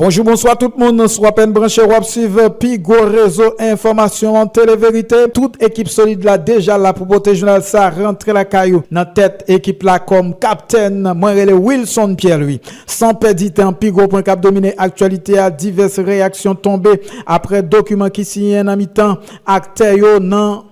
Bonjou bonswa tout moun, sou apèn branche wap swiv pi gwo rezo enfòmasyon an Tele Verite, tout ekip solid la deja la pou pote jounal sa rantre lakay ou, nan tèt ekip la kòm kaptèn mwen rele Wilson Pierre Louis. San pèdi tan pi gwo pwen kap domine aktyalite a divès reyaksyon tonbe aprè dokiman ki siyen nan mitan aktè yo nan.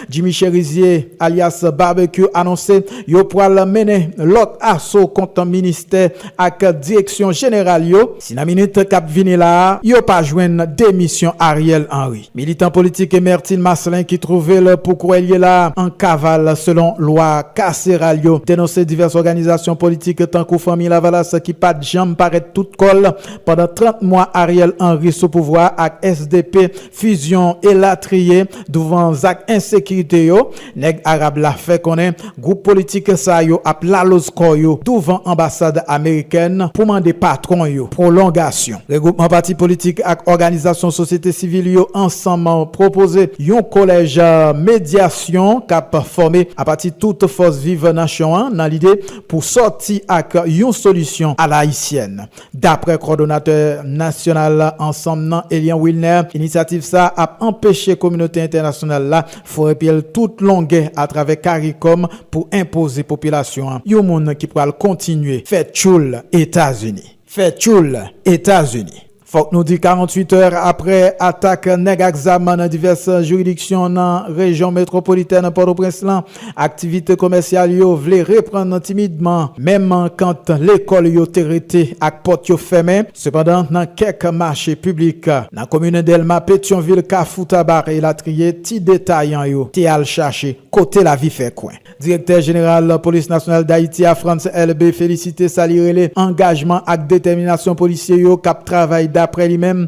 Jimmy Cherizier alyas Barbecue anonse yo pwal mennen lòt aso kont ministè ak direksyon jeneral yo si nan minit kap vini la a yo pa jwenn demisyon Ariel Henry. Militan politik Emertine Marcelin ki twouve l pou kouwè l ye la a an kaval selon lwa kaseral yo denonse divès òganizasyon politik tankou Fanmi Lavalas ki pat janm parèt tout kò l pandan 30 mwa Ariel Henry sou pouvwa a ak sdp fizyon elatriye douvan zak ensekirite yo, nèg arab la fè konnen gwoup politik sa yo ap laloz kò yo douvan anbasad amerikèn pou mande patwon yo pwolongasyon. Regwoupman pati politik ak òganizasyon sosyete sivil yo ansanm pwopoze yon kolèj medyasyon k ap fòme apati tout fòs viv nasyon an nan lide pou sòti ak yon solisyon alaisyèn. Daprè kòdonatè nasyonal ansanm nan Elian Wilner, inisyativ sa a ap anpeche kominote entènasyonal la foure pye l tout longè atravè caricom pou enpoze popilasyon an yon moun ki pral kontinye fè tchoul Etazini. Fè tchoul Etazini. Fòk nou di 48 è aprè atak nèg ak zam nan divès jiridiksyon nan rejyon metwopolitèn Pòtoprens lan, Aktivite komèsyal yo vle reprann timidman, menm kant lekòl yo te rete ak pòt yo fèmen. Sepandan, nan kèk mache piblik, nan komin Dèlma, Petyonvil, Kafou Tabarre, elatriye, ti detayan yo te al chache kote lavi fè kwen. Direktè jeneral Polis Nasyonal Dayiti a, Frantz Elbé, felisite sa li rele angajman ak detèminasyon polisye yo k ap travay daprè li menm,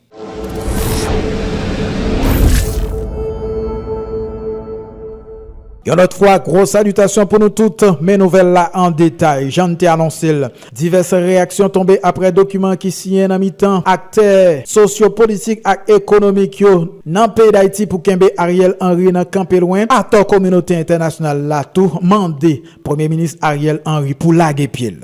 Yon lòt fwa, gwo salitasyon pou nou tout, men nouvèl la an detay. Jan n te anonse l, divès reyaksyon tonbe aprè dokiman ki siyen nan mitan aktè sosyopolitik ak ekonomik yo nan peyi Dayiti pou kenbe Ariel Henry nan kanpe lwen. Atò kominote entènasyonal la tou mande Premye Minis Ariel Henry pou lage pye l.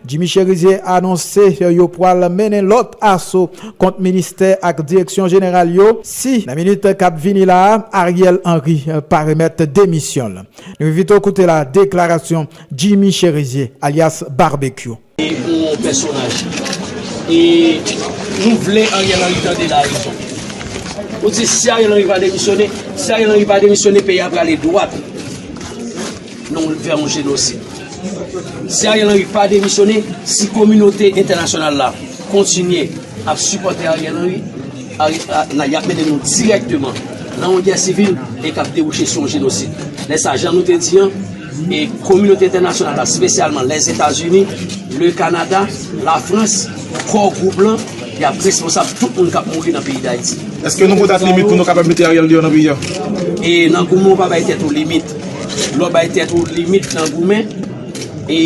Jimmy Chérizier anonse yo pwal mennen lòt aso kont ministè ak direksyon jeneral yo si nan minit kap vini la a Ariel Henry pa remèt demisyon l. Nou envite w koute la deklarasyon Jimmy Chérizier alyas Barbecue. Se yon pèsonaj e nou vle Ariel Henry tande la rezon. Nou di si Ariel Henry pa demisyone, si Ariel Henry pa demisyone peyi a prale dwat. Non li fè yon jenosid. Si Ariel Henry pa demisyone, si kominote entènasyonal la kontinye ap sipòte Ariel Henry, y ap mennen nou dirèkteman nan yon gè sivil e k ap debouche sou yon jenosid. Lè sa, jan nou te di an, kominote entènasyonal la, spesyalman Lèzetazini, Le Kanada, Lafrans, Kò Gwoup lan, y ap responsab tout moun k ap mouri nan peyi Dayiti. Eske nou go dat limit pou nou kapab mete Ariel deyò nan peyi a? E nan goumen w pa bay tèt ou limit. Lè w bay tèt ou limit nan goumen, e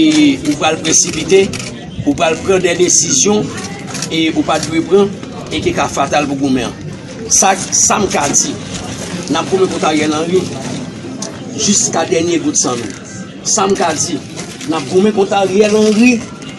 ou pral presipite, ou pral pran de desizyon e ou pa t dwe pran e ki ka fatal pou goumen an. Sa k, sa m ka di, n ap goumen kont Ariel Henry jiska dènye gout san nou. Sa m ka di, n ap goumen kont Ariel Henry.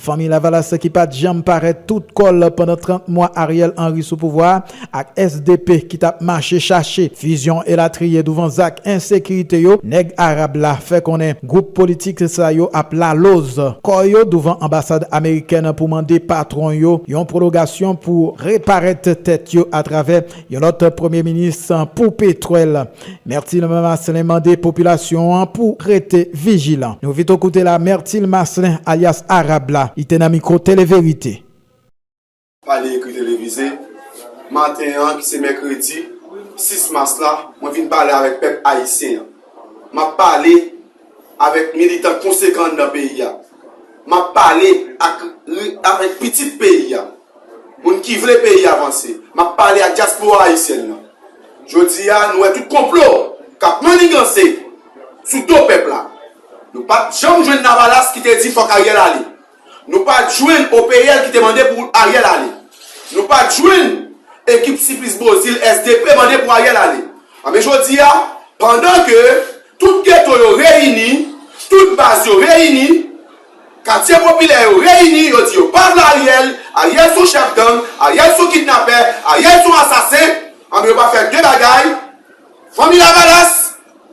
Fanmi Lavalas ki pat janm parèt tout kò l pandan 30 mwa Ariel Henry sou pouvwa a ak sdp ki t ap mache chache fizyon elatriye douvan zak ensekirite yo, nèg arab la fè konnen gwoup politik sa yo ap laloz kò yo douvan anbasad amerikèn pou mande patwon yo yon pwologasyon pou reparèt tèt yo atravè yon lòt premye minis pou petwèl. Mertil Maslin mande popilasyon an pou rete vijilan. Nou vito koute la Mertil Maslin alyas Arab la, li te nan mikwo Tele Verite. Pale ekri televize, Maten an ki se mèkredi 6 mas la, mwen vin pale avèk pèp ayisyen an. M ap pale. avèk militan konsekan anndan peyi a. M ap pale ak avèk pitit peyi a, moun ki vle peyi a vanse. M ap pale ak dyaspora ayisyèn nan. Jodi a, nou wè tout konplo k ap manniganse sou do pèp la. Nou pa t janm jwenn Lavalas ki te di fòk Ariel ale. Nou pa jwenn OPL ki te mande pou Ariel ale. Nou pa jwenn ekip Siplis Bozil sdp mande pou Ariel ale. Anben jodi a, pandan ke tout geto yo reyini, tout baz yo reyini, katye popilè yo reyini, yo di yo pa vle Ariel, Ariel son chèf gang, Ariel son kidnapè, Ariel son asasen, anben yo pa fè 2 bagay, Fanmi Lavalas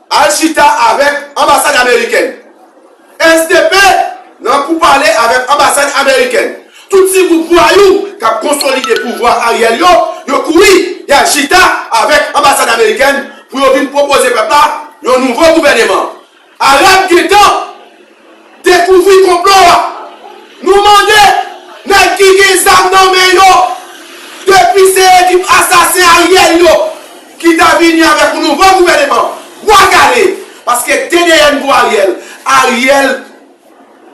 al chita avèk anbasad amerikèn. SDP nan pou pale avèk anbasad amerikèn. Tout ti gwoup vwayou k ap konsolide pouvwa Ariel yo, yo kouri y al chita avèk anbasad amerikèn pou yo vin pwopoze pèp la yon nouvo gouvèneman. Arab gentan dekouvri konplo a. Nou mande nèg ki gen zam nan men yo depi se ekip asasen Ariel yo ki ta vini avèk yon nouvo gouvèneman bwa kale paske te dèyè nouvo Ariel, Ariel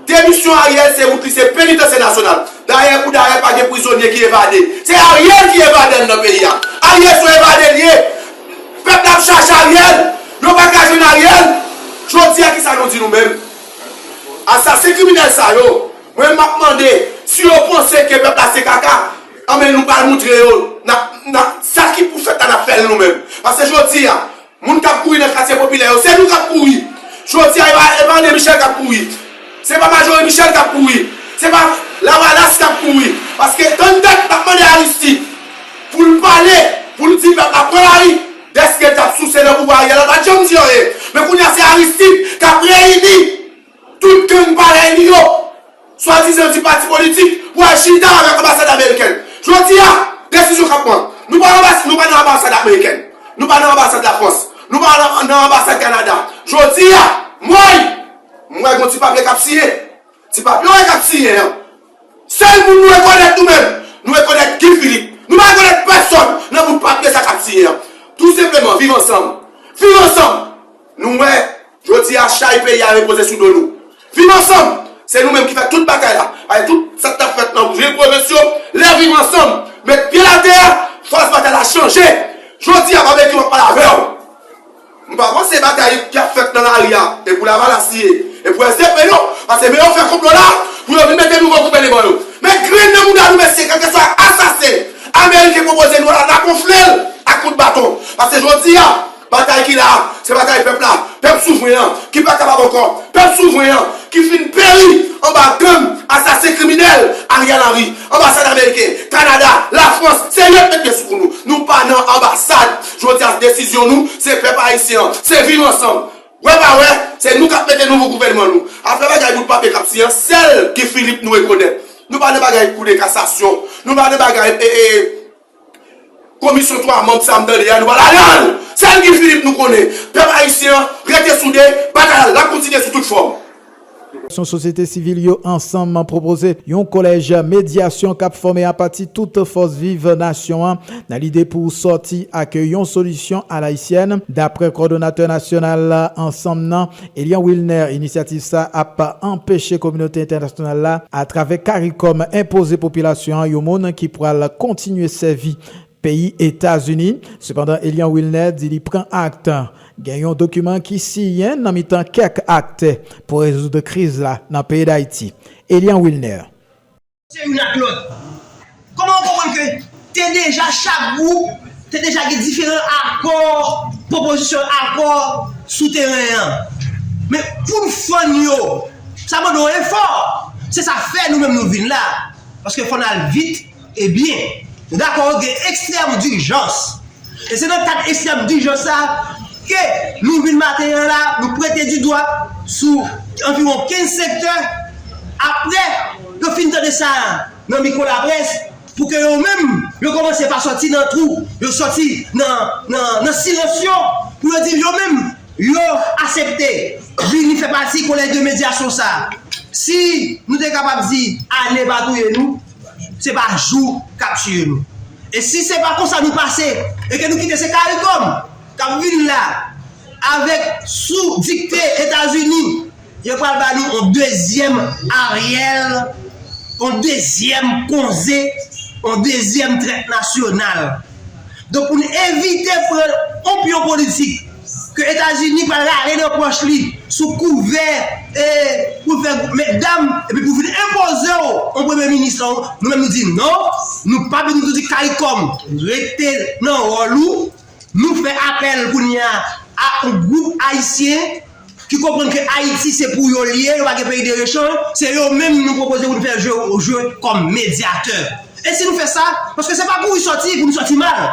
Demisyon Ariel se wout li se penitansye nasyonal. Dayè pou dayè pa gen prizonye ki evade. Se Ariel ki evadè nan peyi a. Ariel son evade li ye. Pèp la ap chache Ariel. Yo pa ka jwenn Ariel. Jodi a kisa nou di nou menm. Asasen kriminèl sa yo. Mwen map mande si yo panse ke pèp la se kaka. Anben nou pral moutre yo. Sa ki pou fèt la nap fèl nou menm. Pase jodi a. Moun kap kouri nan katye popilè yo se nou kap kouri jodi a e pa André Michel kap kouri se pa Majorie Michel kap kouri se pa lavalas kap kouri paske tann dat nap mande Aristide poul pale poul di pèp la pran lari dèske l tap souse nan pouvwa Ariel la l pat janm di anyen men kounye a se Aristide kap reyini Tout gang parèy li yo, swadizan ti pati politik, pwal chita avèk anbasad amerikèn. Jodi a, desizyon k ap pran. Nou pa anbas, nou pa nan anbasad amerikèn. Nou pa nan anbasad Lafrans. Nou pa nan anbasad Kanada. Jodi a, mwen, m wè gon ti papye k ap siyen. Ti papye w wè k ap siyen an, sèl moun nou rekonèt nou menm, nou rekonèt Guy Philippe. Nou pa rekonèt pèsòn nan bout papye sa k ap siyen an. Tou senpleman, viv ansanm! Viv ansanm! Nou wè, jodi a, chay peyi a repoze sou do nou. Viv ansanm! Se nou menm ki fè tout bagay la. Paske tout sa k t ap fèt nan vye pwovens yo, lè Viv ansanm met pye l atè a, fas batay la chanje. Jodi a, Babekyou ap pale avè w. M pa panse batay ki ap fèt nan lari a, e pou Lavalas li ye, e pou SDP non. Paske men yo fè konplo la pou yo vin mete nouvo gouvèneman yo. Men grenn nan mouda nou mesye, kèlkeswa asasen ameriken pwopoze nou la, n ap wonfle l ak kout baton. Paske jodi a. Batay ki la a, se batay pèp la, pèp souvren an, ki pa kapab ankò, pèp souvren an, ki fin peri anba gang, asasen, kriminèl Ariel Henry. Anbasad ameriken, Kanada, Lafrans, se yo ki met men sou kou nou. Nou pa nan anbasad. Jodi a, desizyon nou, se pèp ayisyen an, se viv ansanm. Wè pa wè, se nou k ap mete nouvo gouvènman nou. Apre bagay bout papye k ap siy an, sèl Guy Philippe nou rekonèt. Nou pa nan bagay koudeta, kasasyon. Nou pa nan bagay e e. Komisyon 3 manb sa m tande a nou pa ladan l! Sèl Guy Philippe nou konnen! Pèp Ayisyen an rete soude, batay la lap kontinye sou tout fòm! Òganizasyon sosyete sivil yo ansanm pwopoze yon kolèj medyasyon k ap fòme apati tout fòs viv nasyon an nan lide pou sòti ak yon solisyon alayisyèn, daprè kòdonatè nasyonal ansanm nan, Elian Wilner, Inisyativ sa ap anpeche kominote entènasyonal la atravè caricom enpoze popilasyon an yon moun ki pral kontinye sèvi peyi Etazini. Sepandan Elian Wilner di li pran act gen yon dokiman ki siyen nan mitan kèk aktè pou rezoud kriz la nan peyi Dayiti. Elian Wilner. Se youn ak lòt. Kòman ou konprann ke te deja chak gwoup te deja gen diferan akò, pwopozisyon akò sou teren an. Men pou n fann yo, sa mande yon efò. Se sa fè nou menm nou vin la. Paske fò n al vit e byen. Nou dakò gen ekstrèm dijans. E se nan kad ekstrèm dijan sa a ke nou vin maten an la a, nou pwente di dwa sou anviwon 15 sektè apre yo fin tande sa a nan mikwo laprès pou ke yo menm yo kòmanse pa sòti nan twou yo sòti nan silans yo pou yo di yo menm yo asepte vini fè pati kolèj de medyasyon sa a. Si nou te kapab di ane pa touye nou. Se pa jou k ap tiye nou. E si se pa konsa nou pase e ke nou kite se caricom k ap vin la avèk sou dikte Etazini, yo pral ba nou yon dezyèm Ariel, yon dezyèm konze, yon dezyèm trèt nasyonal. Donk pou n evite pran onpyon politik ke Etazini pral rale nan pòch li sou kouvè pou l fè gwoup mètdam epi pou vin enpoze w on premye minis lan, nou menm nou di non, nou pa vin nou di caricom rete nan wòl ou, nou fè apèl kounye a a on gwoup ayisyen. ki konprann ke Ayiti se pou yo li ye, yo pa gen peyi derechan, se yo menm nou pwopoze pou nou fè jwe kòm medyatè. E si nou fè sa, paske se pa kouri sòti pou nou sòti mal,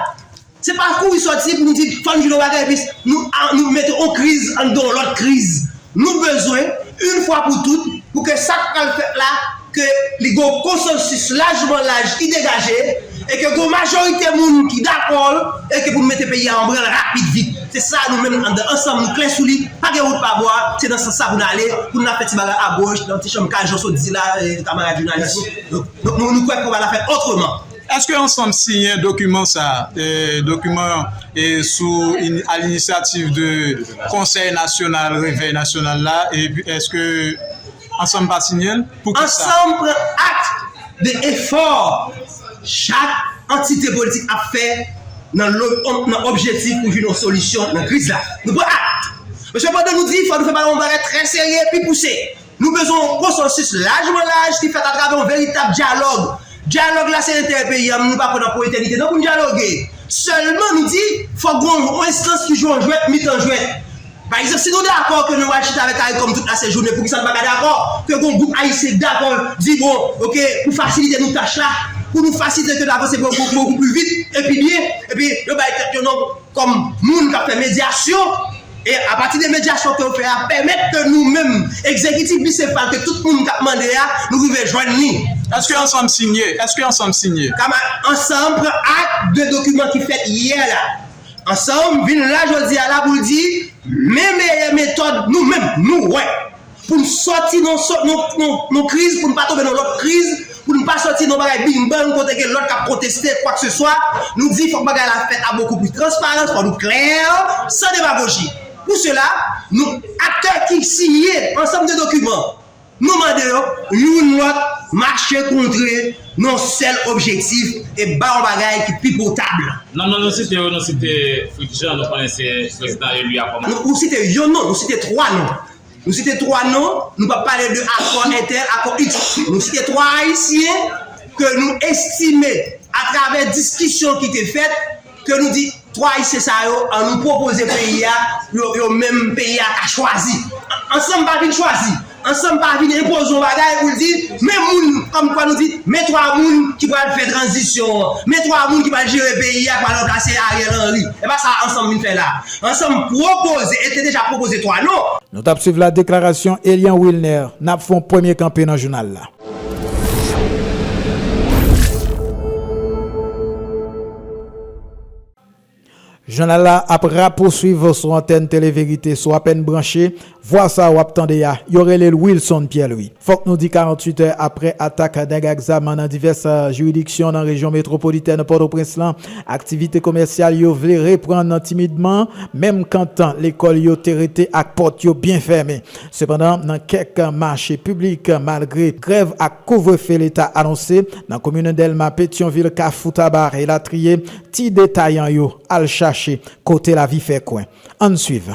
se pa kouri sòti pou nou di fò nou jwenn yon bagay epi nou mete yon kriz anndan yon lòt kriz. Nou bezwen, yon fwa pou tout, pou ke sa k pral fèt la ke li gen yon konsansis lajman laj ki degaje e ke gen yon majorite moun ki dakò l e ke pou nou mete peyi a an branle rapid vit. Se sa nou menm andan Ansanm nou klè sou li, pa gen wout pa bwa, se nan sans sa pou nou ale, pou nou la fè ti bagay a goch nan ti chanm kay jan w sot di la kamarad jounalis yo. Donk nou nou kwè ke nou va la fè otreman. Eske Ansanm siyen dokiman sa, dokiman sou a l'initiative de Konsèy Nasyonal Revèy Nasyonal la epi eske. Ansanm pa siyen l, poukisa? Ansanm pran akt de efò chak antite politik ap fè nan lo nan objetif pou jwenn yon solisyon nan kriz la. Nou pran akt. Paske pandan nou di fò nou fè pa yon bagay trè serye epi pouse, nou bezwen yon konsansis lajman laj ki fèt atravè yon veritab dyalòg. Dyalòg la se enterè peyi a men nou pa kwè nan pou etènite non pou n dyaloge. Sèlman nou di fòk gen yon enstans ki jwe yon jwèt mitan jwèt. Pa egzanp, si nou dakò ke nou pral chita avèk Caricom tout la sejounen, poukisa nou pa ka dakò ke gon gwoup ayisyen ki dakò di bon ok pou fasilite nou tach la, pou nou fasilite ke n avanse bokou pli vit e pi byen, epi yo bay tèt yo non kòm moun k ap fè medyasyon, e apati de medyasyon ke yo fè a pèmèt ke nou menm egzekitif bisefal ke tout moun k ap mande a nou rive jwenn li. Eske ansanm sinye? Eske ansanm sinye? Kamad, Ansanm pran ak de dokiman ki fèt yè la. Ansanm vin la jodi a la pou l di men meyè metòd nou menm nou wè pou n sòti nan yon kriz, pou n pa tonbe nan lòt kriz, pou n pa sòti nan yon bagay bing bang kote gen lòt k ap konteste kwakseswa. Nou di fòk bagay la fèt a bokou plis transparans, fòk nou klè, san demagoji. Pou sela, nou aktè ki siyen ansanm de dokiman. Nou mande yo, youn lòt, mache kontre yon sèl objektif e bay yon bagay ki pi potab. Nan non nou site yo, nou site Fritz Jean, nou konnen se prezidan eli a kòm. Nou site yon non, nou site twa non. Nou site twa non, nou pa pale de akò entèl, akò iks. Nou site twa Ayisyen ke nou estime, atravè diskisyon ki te fèt, ke nou di 3 ayisyen sa yo an nou pwopoze peyi a pou yo menm peyi a ka chwazi ansanm pa vin chwazi ansanm pa vin enpoze yon bagay pou l di men moun kòm kwa nou di men 3 moun ki pral fè tranzisyon an men 3 moun ki pral jere peyi a ki pral ranplase Ariel Henry e pa sa ansanm vin fè la ansanm pwopoze e te deja pwopoze 3 non. Nou tap swiv la deklarasyon Elian Wilner nap fon premye kanpe nan jounal la. Jounal la ap rapousuiv sou antèn Tele Verite. Si w apèn branche, vwa sa a w ap tande a, yo rele l Wilson Pierre Louis. Fòk nou di 48 è aprè atak nèg ak zam nan divès jiridiksyon nan rejyon metwopolitèn Pòtoprens lan, aktivite komèsyal yo vle reprann timidman, menm kantan lekòl yo te rete ak pòt yo byen fèmen. Sepandan, nan kèk mache piblik, malgre grèv ak kouvrefe Leta anonse, nan komin Dèlma, Petyonvil, Kafou Tabar, elatriye, ti detayan yo al chache kote lavi fè kwen. Ann swiv.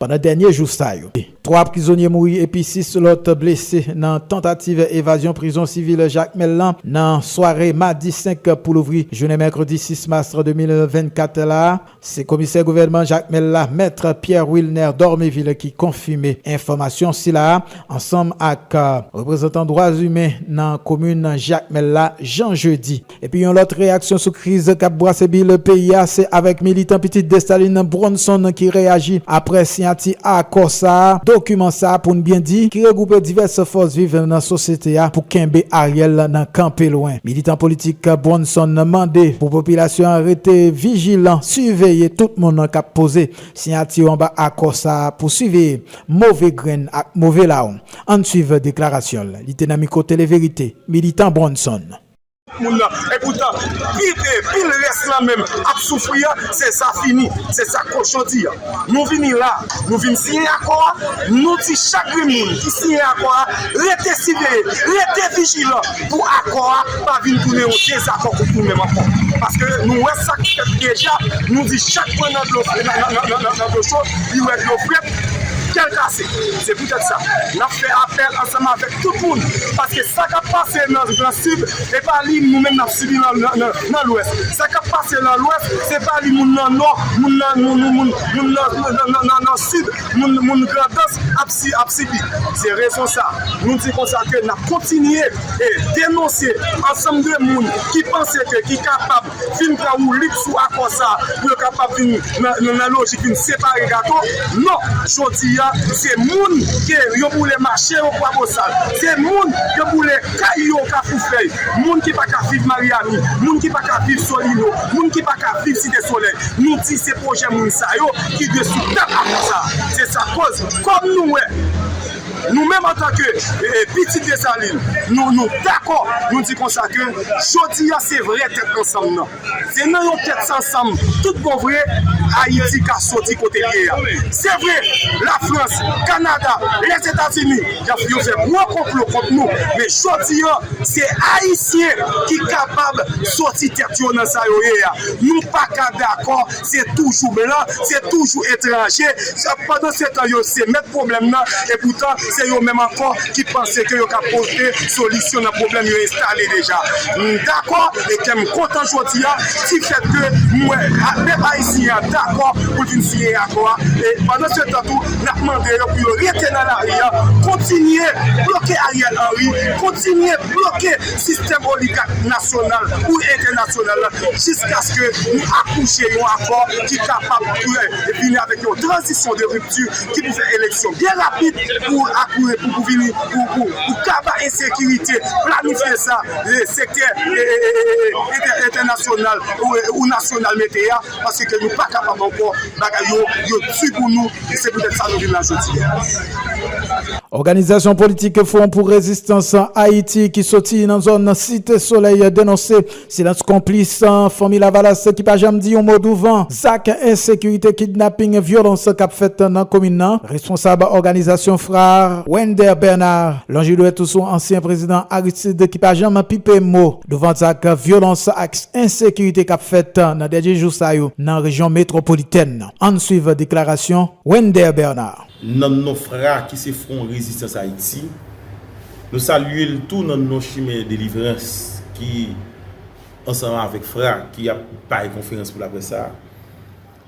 Pandan dènye jou sa yo, 3 prizonye mouri epi 6 lòt blese nan tantativ evazyon prizon sivil Jakmèl lan nan sware madi 5 pou louvri jounen mèkredi 6 mas 2024 la. Se komisè gouvènman Jakmèl la, mèt Pierre Wilner Dormevil ki konfime enfòmasyon sila a ansanm ak reprezantan dwa imen nan komin Jakmèl la Jean Jeudy. Epi yon lòt reyaksyon sou kriz kap bwase bil peyi a se avèk militan pitit Dessalines Bronson ki reyaji aprè siyati akò sa, dokiman sa pou n byen di ki regwoupe divès fòs viv nan sosyete a pou kenbe Ariel nan kanpe lwen. Militan politik Bronson mande pou popilasyon an rete vijilan siveye tout moun kap poze siyati yo anba akò sa pou siveye move grenn ak move lawon. Ann swiv deklarasyon l, li te nan mikwo Tele Verite, Militan Bronson. moun nan epoutan pil rès lan menm ap soufri an se sa fini se sa kochon di an nou vini la nou vin siyen akò a nou di chak grenn moun ki siyen akò a rete siveye rete vijilan pou akò a pa vin tounen yon dezakò kont nou menm ankò paske nou wè sak fèt deja nou di chak pran nan dlo nan dlo cho li wè dlo frèt kèl kase se poutèt sa nap fè apèl ansanm avèk. Tout moun, paske sa kap pase nan nan sid e pa li nou menm nap sibi nan nan nan lwès, sa kap pase nan lwès se pa li moun nan nò, moun nan nou nou moun moun nan nan nan nan nan sid, moun moun grandans ap si ap sibi. Se rezon sa nou di konsa ke nap kontinye e denonse ansanm de moun ki panse ke ki kapab vin pran woulit sou akò sa a pou yo kapab vin nan lojik vin separe gato non jodi a se moun ke yo boule mache yo kwabosal se moun yo boule kay yo kafoufèy moun ki pa ka viv maryani moun ki pa ka viv solino moun ki pa ka viv site solèy nou di se pwojè moun sa yo ki dwe sou tab akò sa a se sa koz kòm nou wè. Nou menm antanke pitit Desalin, nou dakò, nou di konsa ke jodi a se vrè tèt ansanm nan. Se nan yon tèt ansanm tout bon vre Ayiti ka soti kote l ye a. Se vre, Lafrans, Kanada, Lèzetazini yo fè gwo konplo kont nou, men jodi a se Ayisyen ki kapab soti tèt yo nan sa yo ye a. Nou pa ka dakò Se toujou blan, se toujou etranje, pandan se tan yo se mèt pwoblèm nan, e poutan se yo menm ankò ki panse ke yo ka pote solisyon nan pwoblèm yo enstale deja. M dakò e kè m kontan jodi a di fèt ke m wè pèp ayisyen an dakò pou l vin siyen akò a, e pandan se tan tou n ap mande yo pou yo rete nan lari a, kontinye bloke Ariel Henry, kontinye bloke sistèm oligak nasyonal ou entènasyonal la jiskaske nou akouche yon akò ki kapab klè epi vini avèk yon tranzisyon de ripti ki pou fè eleksyon byen rapid pou akouri pou vini pou kaba ensekirite planifye sa sektè entènasyonal ou nasyonal mete a. paske ke nou pa kapab ankò, bagay yo, yo di pou nou, e se poutèt sa nou vin la jodi a. Òganizasyon politik Fwon pou Rezistans Ayiti ki soti nan zòn Site Solèy denonse silans konplis Fanmi Lavalas ki pa janm di yon mo douvan zak ensekirite, kidnaping, vyolans k ap fèt nan komin nan. Responsab òganizasyon Frères Wender Bernard lonje dwèt sou ansyen prezidan Aristide ki pa janm pipe mo. Douvan zak vyolans ak ensekirite k ap fèt nan dènye jou sa yo nan rejyon metwopolitèn nan, ann swiv deklarasyon Wender Bernard. Nan non fra ki se Fwon Rezistans Ayiti, nou salye l tou nan non Chimen Delivrans ki, ansanm avèk fra ki ap bay konferans pou laprès sa a,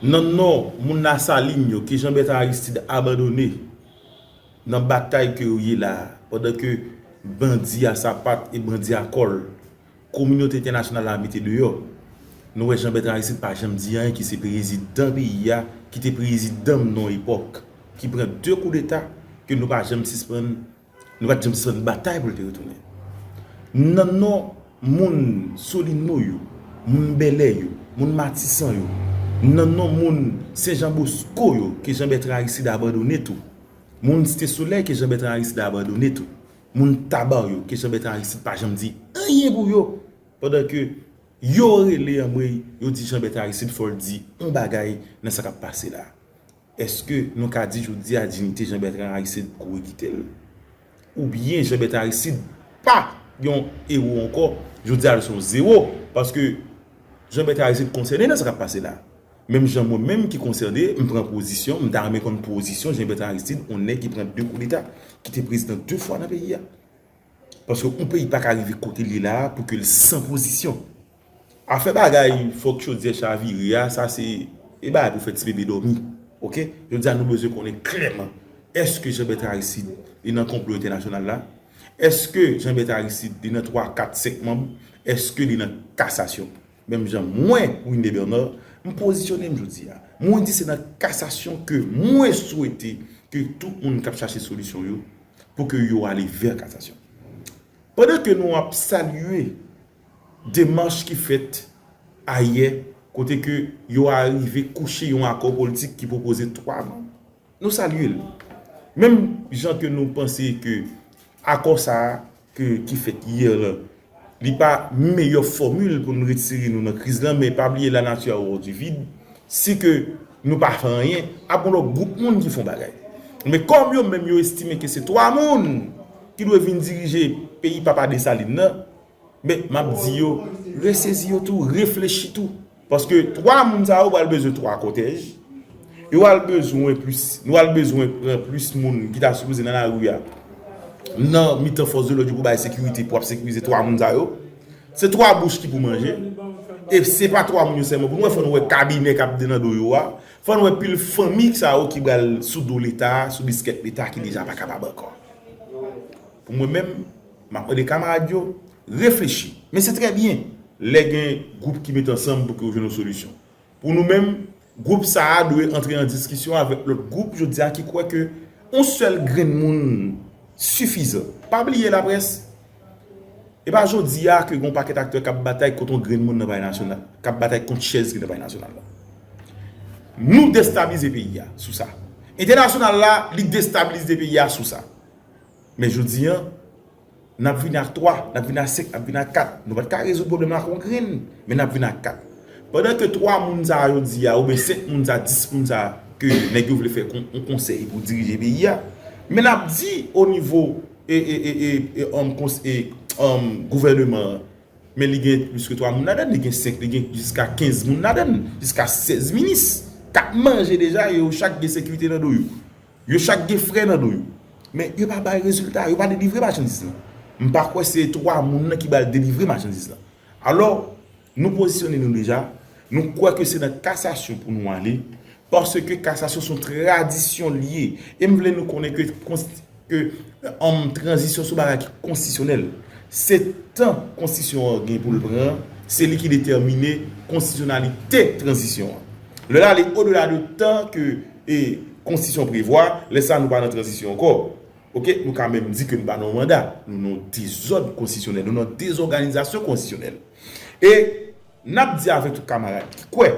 nan non moun Lasalin yo ke Janbètan Aristid abandone. Nan batay ke yo ye la a, pandan ke bandi a sapat e bandi a kòl, kominote entènasyonal la mete deyò, nou wè Jean Bertrand Aristide pa janm di anyen ki se prezidan peyi a, ki te prezidan mnen yon epòk, ki pran 2 koudeta, ke nou pa janm sispann, nou pat janm sispann batay pou l te retounen. Nan non moun Solino yo, moun Bèlè yo, moun Matisan yo, nan non moun Sen Jan Bosko yo ke Jean Bertrand Aristide abandone tou, Moun Site Solèy ke Jean-Bertrand Aristide abandone tou. Moun Tabar yo ke Jean-Bertrand Aristide pa janm di anyen pou yo. Pandan ke yo rele anmweyy yo di Jean-Bertrand Aristide fòl di yon bagay nan sa kap pase la. Eske nou ka di jodi a dinite Jean-Bertrand Aristide kouri kite l? Ou byen Jean-Bertrand Aristide pa yon ewo ankò, jodi a l son zewo paske Jean-Bertrand Aristide konsène nan sa kap pase la. Menm jan mwen menm ki konsène, m pran pozisyon, m ta renmen konn pozisyon Jean Bertrand Aristide, on nèg ki pran 2 koudeta, ki te prezidan 2 fwa nan peyi a. Paske on peyi pa ka rive kote l ye la a pou ke l san pozisyon. Afè bagay fòk chodyè chavire a, sa se e bagay pou fè ti bebe dòmi. Ok? Jodi a nou bezwen konnen klèman, èske Jean Bertrand Aristide li nan konplo entènasyonal la? Èske Jean Bertrand Aristide li nan 3, 4, 5 manm? Èske li nan kasasyon? Menm jan mwen, Winde Bernard, m pozisyone m jodi a. Mwen di se nan kasasyon ke mwen swete ke tout moun k ap chache solisyon yo, pou ke yo ale vè kasasyon. Pandan ke nou ap salye demach ki fèt ayè, kote ke yo arive kouche yon akò politik ki pwopoze 3 non. Nou salye l. Menm jan ke nou panse ke akò sa a ke ki fèt hier lan, li pa meyè fòmil pou n retire nou nan kriz lan men pa bliye la nature a horreur du vide, si ke nou pa fè anyen, ap gon lòt gwoup moun ki fon bagay. Men kòm yo menm yo estime ke se 3 moun ki dwe vin dirije peyi papa Dessalines lan, Men, m ap di yo, resezi yo tou, reflechi tou. Paske 3 moun sa yo pral bezwen 3 kòtèj. Yo pral bezwen plis, nou pral bezwen pran plis moun ki ta sipoze nan lari a, nan mitan fòs de lòd yo pou bay sekirite, pou ap sekirize 3 moun sa yo. Se 3 bouch ki pou manje. E se pa 3 moun yo sèlman. Pou nou wè, fò nou wè kabinè k ap vini nan do yo a. Fò nou wè pil fanmi sa yo ki pral sou do Leta, sou biskèt Leta ki deja pa kapab ankò. Pou mwen menm. M ap mande kamarad yo reflechi. Men se trè byen lè gen gwoup ki met ansanm pou ke yo jwenn yon solisyon. Pou nou menm, gwoup sa a dwe antre an diskisyon avèk lòt gwoup jodi a ki kwè ke yon sèl grenn moun sifizan. Pa bliye laprès, e pa jodi a ke gen yon pakèt aktè k ap batay kont yon grenn moun nan palè nasyonal, k ap batay kont chèz ki nan palè nasyonal la. Nou destablize peyi a sou sa. Entènasyonal la, li destablize peyi a sou sa. Men jodi an, n ap vini ak 3, n ap vini ak 5, n ap vini ak 4. Nou pa t ka rezoud pwoblèm la ak yon grenn, men n ap vini ak 4. Pandan ke 3 moun sa a yo di a, oubyen 5 moun sa a, 10 moun sa a, ke nèg yo vle fè yon konsèy pou dirije peyi a, men n ap di o nivo gouvèneman an, men li gen plis ke 3 moun ladan, li gen 5, li gen jiska 15 moun ladan, jiska 16 minis, k ap manje deja, e yo chak gen sekirite nan do yo. Yo chak gen frè nan do yo. Men yo pa bay rezilta, yo pa delivre machandiz lan. M pa kwè se 3 moun nan ki bal delivre machandiz lan. Alò, nou pozisyone nou deja, nou kwè ke se nan kasasyon pou nou ale, paske kasasyon son tradisyon li ye. E m vle nou konnen ke tranzisyon son bagay ki konstisyonèl. Se tan konstitisyon an gen pou l pran, se li ki detèmine konstisyonalite tranzisyon an. Lè l ale odela de tan ke. e konstitisyon prevwa, lè sa nou pa nan tranzisyon ankò. Ok, nou ka menm di ke nou pa nan yon manda. Nou nan yon dezòd konstitisyonèl, nou nan dezòganizasyon konstitisyonèl. E n ap di avèk tout kamarad ki kwè,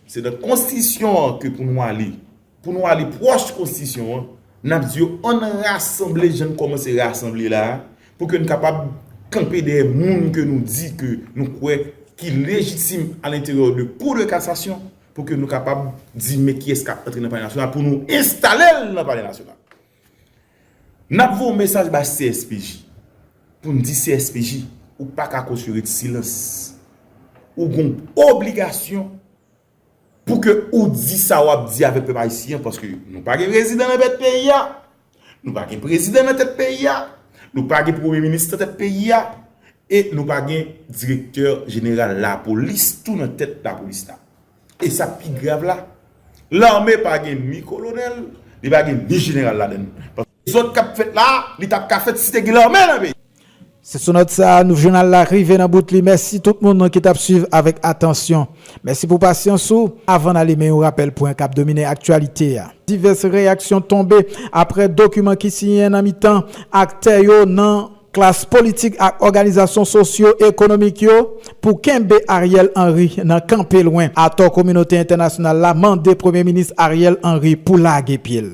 se nan konstitisyon an ke pou nou ale, pou nou ale pwòch konstitisyon an, n ap di yo an n rasanble jan n kòmanse rasanble la a, pou ke n kapab kanpe dèyè moun ke nou di ke nou kwè ki lejitim alenteryè de kou de kasasyon. Pou ke nou kapab di men kiyès kap antre nan palè nasyonal pou nou enstalel nan palè nasyonal. Nap voye yon mesaj bay CSPJ pou nou di CSPJ ou paka kosye ret silans. Ou gon obligasyon pou ke ou di sa wap di avek pèp ayisyen paske nou pa gen rezidan nan bèt peyi a. Nou pa gen prezidan nan tèt peyi a, nou pa gen premye minis nan tèt peyi a, e nou pa gen direktè jeneral lapolis tou nan tèt lapolis la. E sa k pi grav la, lame pa gen ni kolonèl, li pa gen ni jeneral ladan l. Paske dezòd k ap fèt la a, li t ap ka fèt si te gen lame nan peyi a. Se sou nòt sa a Nouv Jounal la rive nan bout li. Mèsi tout moun ki t ap suiv avèk atansyon. Mèsi pou pasyans ou. Avan n ale men yon rapèl pwen k ap domine aktyalite a. Divès reyaksyon tonbe aprè dokiman ki siyen nan mitan aktè yo nan. Klas politik ak òganizasyon sosyo ekonomik yo pou kenbe Ariel Henry nan kanpe lwen atò kominote entènasyonal la mande Premye Minis Ariel Henry pou lage pye l.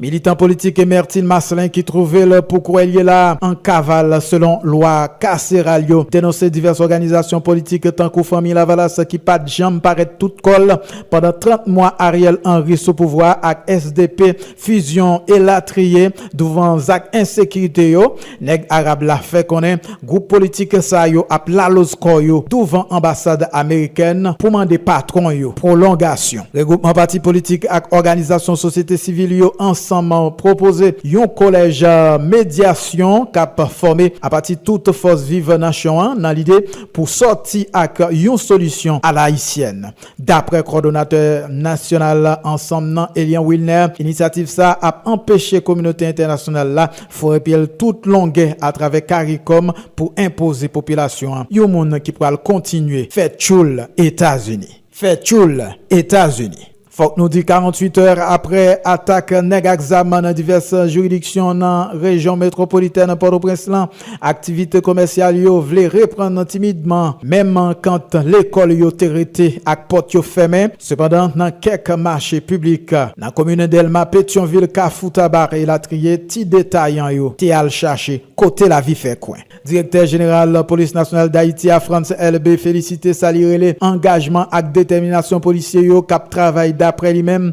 Militan politik Emertine Marcelin ki twouve l pou kouwè l ye la an kaval selon lwa kaseral yo, denonse divès òganizasyon politik tankou Fanmi Lavalas ki pa t janm parèt tout kò l pandan 30 mwa Ariel Henry sou pouvwa a ak sdp, Fusion, elatriye, douvan zak ensekirite yo. Nèg Arab la fè konnen gwoup politik sa yo ap laloz kò yo douvan anbasad amerikèn pou mande patwon yo pwolongasyon. Regwoupman pati politik ak òganizasyon sosyete sivil yo ansanm pwopoze yon kolèj medyasyon k ap fòme apati tout fòs viv nasyon an nan lide pou sòti ak yon solisyon alaisyèn. Daprè kòdonatè nasyonal ansanm nan Elian Wilner, inisyativ sa a ap anpeche kominote entènasyonal la foure pye l tout longè atravè caricom pou enpoze popilasyon an yon moun ki pral kontinye fè tchoul Etazini. Fè tchoul Etazini. Fòk nou di 48 è aprè atak nèg ak zam nan divès jiridiksyon nan rejyon metwopolitèn Pòtoprens lan, Aktivite komèsyal yo vle reprann timidman, menm kant lekòl yo te rete ak pòt yo fèmen. Sepandan, nan kèk mache piblik, nan komin Dèlma, Petyonvil, Kafou Tabarre, elatriye, ti detayan yo te al chache kote lavi fè kwen. Direktè jeneral Polis Nasyonal Dayiti a, Frantz Elbé, felisite sa li rele angajman ak detèminasyon polisye yo k ap travay daprè li menm,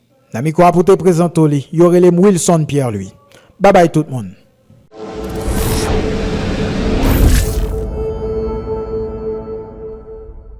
Nan mikro a pou te prezanto li, yo rele m Wilson Pierre Louis. Babay tout moun.